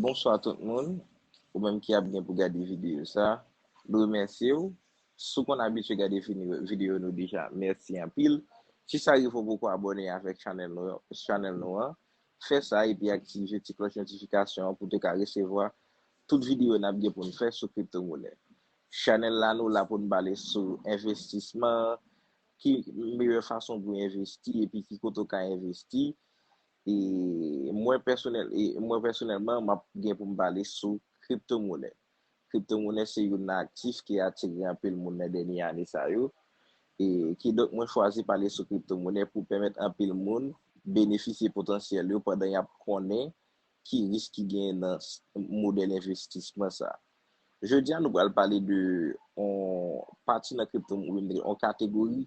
Bonswa tout moun, ou menm ki ap gen pou gade videyo sa, m remèsye w, si w konn abitye gade videyo nou deja mèsi anpil, si sa rive w poko abòne avèk chanèl nou an, fè sa epi aktive ti klòch notifikasyon an pou w te ka resevwa tout videyo n ap gen pou n fè sou kripto monè. Chanèl la nou la pou n pale sou envestisman, ki meyè fason pou envesti epi ki kote w ka envesti, E mwen pèsonèl, e mwen pèsonèlman map gen pou m pale sou kripto monè. Kripto monè se youn nan aktif ki atire anpil moun nan dènye ane sa yo. E kidonk mwen chwazi pale sou kripto monè pou pèmèt anpil moun benefisye potansyèl yo pandan yap konnen ki risk ki genyen nan modèl envestisman sa. Jodi a nou pral pale de on pati nan kripto, on kategori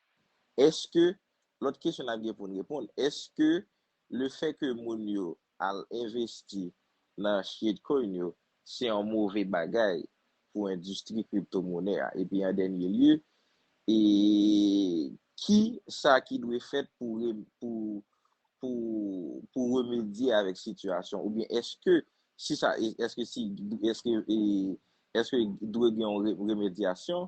Eske, lòt kesyon n ap gen pou n reponn, eske le fè ke moun yo al envesti nan Shitcoin yo se yon move bagay pou endistri kripto monè a? Epi an dènye lye, e ki sa ki dwe fèt pou remedye avèk sitiyasyon oubyen eske si sa eske si eske eske dwe gen yon remedyasyon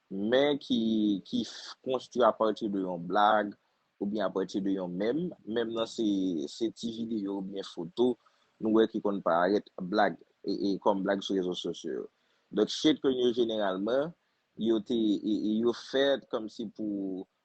men ki ki konstwi apati de yon blag oubyen apati de yon mèm, mèm nan se se ti videyo oubyen foto nou wè ki konn parèt blag e kòm blag sou rezo sosyo yo. Donk shitcoin yo jeneralman yo te yo fèt kòmsi pou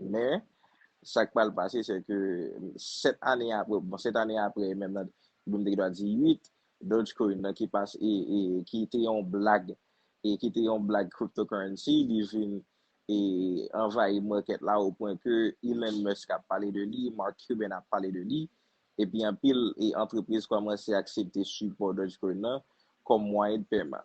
Men, sa k pral pase sè ke sèt ane apre, bon sèt ane apre menm nan, bon m te gen dwa di uit, Dogecoin nan ki pas, e, e, ki te yon blag, e ki te yon blag cryptocurrency, li vin, e, anvayi market la o pwen ke Elon Musk ap pale de li, Mark Cuban ap pale de li, epi anpil, e, antrepriz kòmanse aksepte sipò Dogecoin nan kòm mwayen de pèman.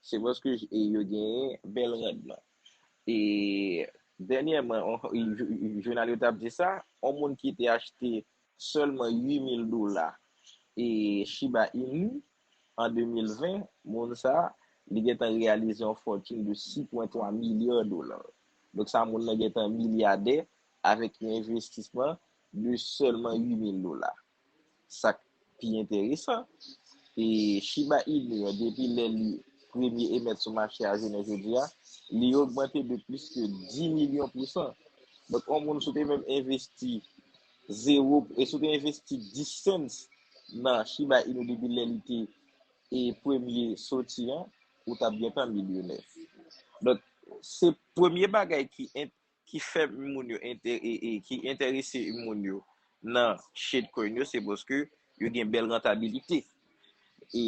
Se paske yo genyen bèl randman. E dènyèman, jounal yo t ap di sa, yon moun ki te achte sèlman 8 mil dola Shiba Inu an 2020, moun sa a, li gentan reyalize yon fòtin de 6,3 milya dola. Donk sa moun nan gentan milyadè avèk yon envestisman de sèlman 8 mil dola. sak pi enteresan e Shiba Inu an depi lè li premye emèt sou mache a jounen jodi a li ogmante de plis ke 10 milyon pousan donk yon moun si w te menm envesti zewo si w te envesti 10 cents nan Shiba Inu depi lè li te premye soti an ou t ap gentan milyonè donk se premye bagay ki ki fè moun yo ki entèrese moun yo nan shade coin yo se paske yo gen bèl rantabilite e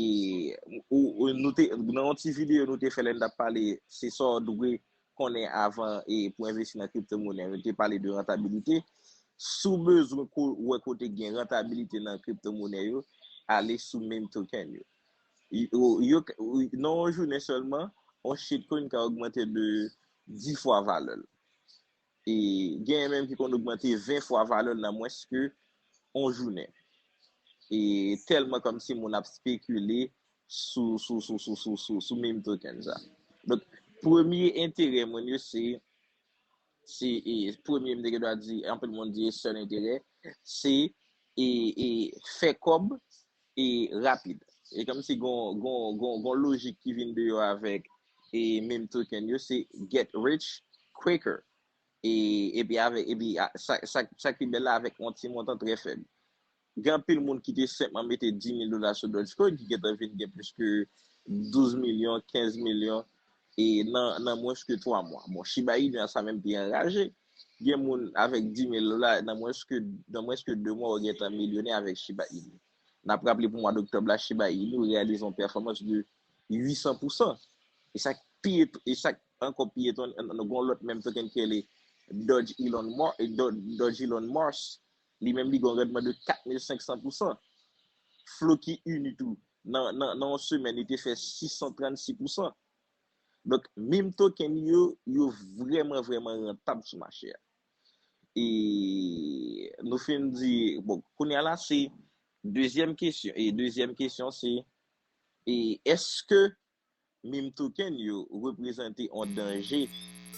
nou te nan yon ti video nou te fè lè nou tap pale se sa w dwe konnen avan e pou envesti nan crypto money nou te pale de rantabilite si w bezwen kou wè kote gen rantabilite nan crypto money yo ale sou meme token yo yo nan yon jounen sèlman yon shade coin ka ogmante de 10 fwa valè l. E genyen menm ki konn ogmante 20 fwa valè l nan mwens ke yon jounen. E tèlman kòmsi moun ap spekile sou meme token sa. Donk, premye enterè moun yo se, se e premye m te gen dwa di, anpil moun di e sèl enterè, se e fè kòb e rapid. E kòmsi gon lojik ki vin deyò avèk e meme token yo se get rich quicker e epi avèk epi sak pi bèl la avèk yon ti montan trè fèb. Gen anpil moun ki te senpman mete 10,000 dola sou Dogecoin ki gentan vin gen plis ke 12 milyon, 15 milyon e nan mwens ke 3 mwa. Bon Shiba Inu a sa menm te anraje. Gen moun avèk 10 mil dola, nan mwens ke nan mwens ke 2 mwa ou gentan milyonè avèk Shiba Inu. Nap raple pou mwa d'oktòb la Shiba Inu reyalize yon pèfòmans de 800 pou san. E sak pi e sak ankò pi etonnant gon lòt menm token ki rele Doge Elon Mo Doge Elon Mars li menm li gon randman de 4500 pou san. Floki Inu tou nan nan nan yon semèn li te fè 636 pou san. Donk, meme token li yo, yo vrèman vrèman rantab sou mache a. E nou fin di, bon, kounye a la se dezyèm kesyon. E dezyèm kesyon se, e eske meme token yo reprezante yon danje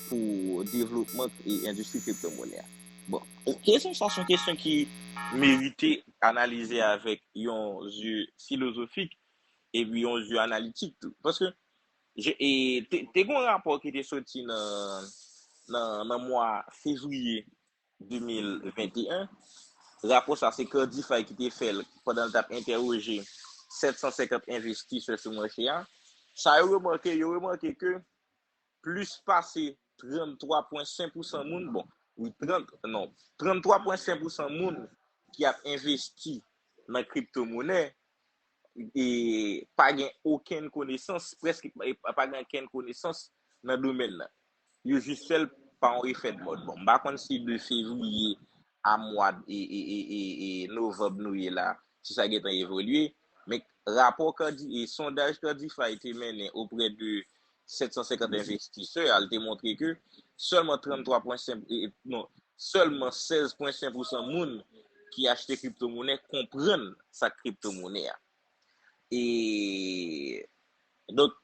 pou devlopman e endistri kriptomonè a? Bon, kesyon sa se yon kesyon ki merite analize avèk yon zye filozofik epi yon zye analitik tou. Paske, te gon rapò ki te soti nan mwa fevriye 2021, rapò sa se Cardify ki te fèl pandan l tap entèwoje 750 envestisè sou machè a, sa yo remake, yo remake ke Plis pase 33 pwen 5 pousan moun, bon, wi 30, non, 33 pwen 5 pousan moun ki ap envesti nan kripto monè, e pa gen okenn konesans, prèske pa gen okenn konesans nan domèn nan. Yo jis fè l pa yon efè de mòd. Bon, m pa konn si 2 fevriye a mwa novanb nou ye la, si sa gentan evolye, men rapò sondaj Candify te mennen oprè de 750 envestisè al te montre ke sèlman 16,5 pousan moun ki achte kriptomonè konprann sak kriptomonè a. E donk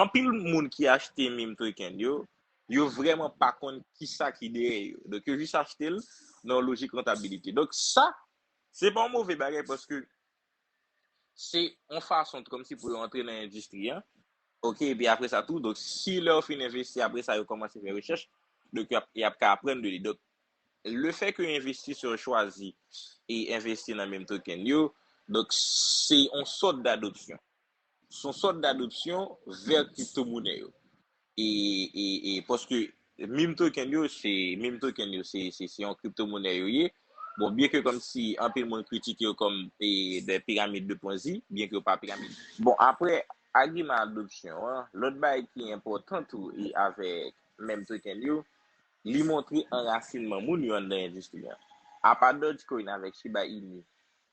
anpil moun ki achte meme token yo, yo vreman pa konn kisa ki dèyè yo. Donk yo jis achte l nan yon lojik rantabilite. Donk sa, se pa yon move bagay paske se yon fason t kòmsi pou yo antre nan endistri an, ok, epi apre sa tou, donk si lè yo fin envesti apre sa yo kòmanse fè rechèch, donk y ap ka aprann de li. Donk le fè ke envestisè yo chwazi envesti nan menm token yo, donk se yon sòt dadopsyon. Se yon sòt d'adopsyon vè kriptomonè yo. E paske meme token yo se meme token yo se yon kriptomonè yo ye. Bon, byen ke kòm si anpil moun kritike yo kòm des pyramides de ponzi, byen ke yo pa pyramid. Bon, apre agiman adopsyon an, lòt bagay ki enpòtan tou e avèk meme token yo, li montre anrasinman moun yo anndan endistri an. Apa Dogecoin avèk Shiba Inu,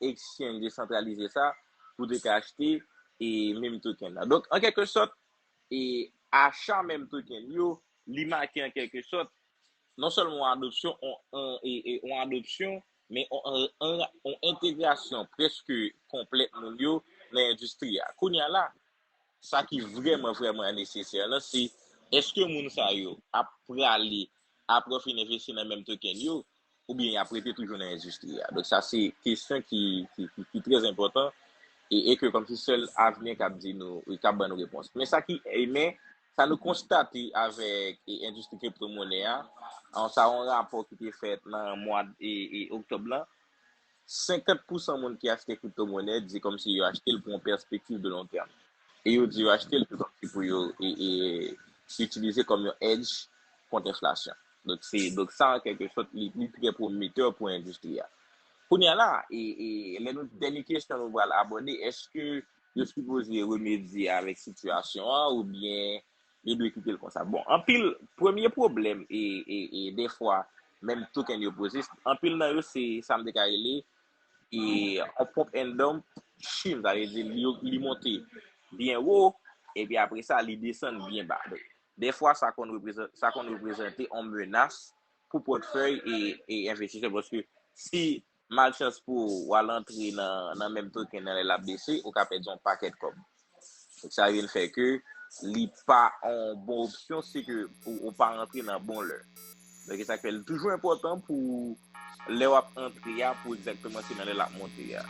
exchange desantralize sa pou te ka achte e meme token nan. Donk, an kèlke sòt, e acha meme token yo, li make an kèlke sòt, non sèlman yon adopsyon, yon adopsyon, men yon entegrasyon prèske konplèt moun yo nan endistri a. Kounye a la, sa ki vrèman vrèman nesesè lan se, èske moun sa yo ap prale, apre yo fin envesti nan meme token yo, ou byen y ap rete toujou nan endistri a. Donk sa se kesyon ki trèz enpòtan e ke kòm se sèl avni an k ap di nou, k ap ban nou repons. Men sa ki, men, sa nou konstate avèk endistri kripto monnen an, sa yon rapò ki te fèt nan mwad oktòb lan, 50 pousan moun ki achte kriptomonè di kòmsi yo achte l pou yon pèspektiv de lon tèm. E yo di yo achte l tou kòmsi pou yo itilize kòm yon edge kont enflasyon. Donk sa an kèlke sòt li trè pwometè pou endistri a. Kounye a la, lè nou, dènye kesyon nou pral abòde, èske yo sipoze remedye avèk sitiyasyon an oubyen Li dwe kitel konsa. Bon anpil premye pwoblèm e e e dèfwa menm token yo poze anpil nan yo se sa m te ka rele e on pump and dump chim sa vle di li li monte byen wo epi apre sa li desann byen ba. Donk dèfwa sa konn reprezante sa konn reprezante on menas pou pòtfèy e e envestisè paske si malchans pou ou, w al antre nan menm token nan lè l ap bese, ou ka pèdi yon pakèt kòb. Donk sa vin fè ke li pa yon bon opsyon si ke ou pa rantre nan bon lè. Donk e sa k fè li toujou enpòtan pou lè w ap antre a pou egzakteman se nan lè l ap monte a.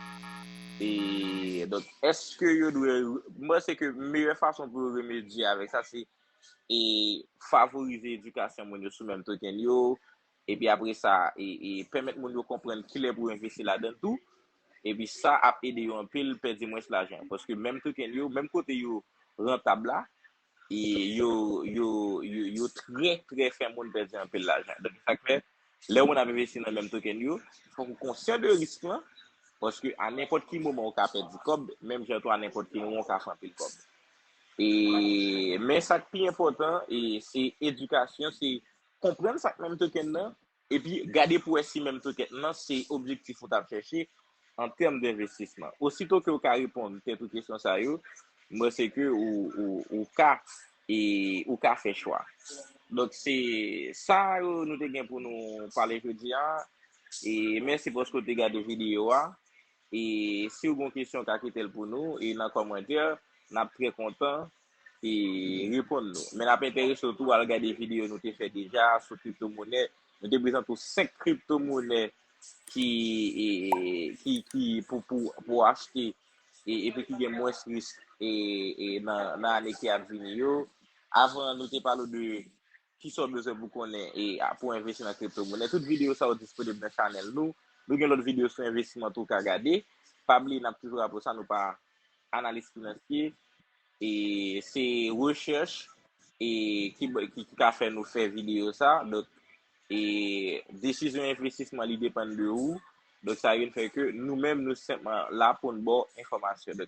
E donk èske yo dwe, m panse ke meyè fason pou yo remedye avèk sa se e favorize edikasyon moun yo sou menm token yo, Epi apre sa, pèmèt moun yo konprann kilè pou yo envesti ladan tou. Epi sa ap ede yo anpil pèdi mwens lajan. Paske menm token yo, menm kote yo rantab la, yo trè trè fè moun pèdi anpil lajan. Donk sa k fè, lè moun ap envesti nan menm token yo, fòk ou konsyan de risk lan. Paske a nenpòt ki moman ou ka pèdi kòb, menm jan tou a nenpòt ki moman ou ka fè anpil kòb. Men sa k pi enpòtan, se edikasyon, se konprann sak menm token nan, epi gade pou wè si menm token nan se objektif ou tap chèche an tèm denvestisman. Osito ke ou ka reponn tèt ou kesyon sa yo, m panse ke ou ka e ou ka fè chwa. Donk se sa yo nou te gen pou nou pale jodi a, e mèsi paske ou te gade videyo a, e si ou gen yon kesyon ou ka kite l pou nou e nan kòmantè, nap trè kontan reponn nou. Men lap enterese w tou al gade videyo nou te fè deja a sou kripto monè. Nou te prezante w 5 kripto monè ki pou w achte epi ki gen mwens risk nan ane ki ap vini yo. Avan nou te pale w de. Kisa w bezwen pou konnen e pou w envesti nan kripto monè? Tout videyo sa yo disponib nan chanèl nou. Nou gen lòt videyo sou envestiman tou w ka gade. Pa bliye n ap toujou raple w sa, nou pa analis finansye e se rechèch e ki ka fè nou fè videyo sa. Donk e desizyon envestisman li depann de ou. Donk sa vin fè ke nou menm nou senpman la pou n ba w enfòmasyon.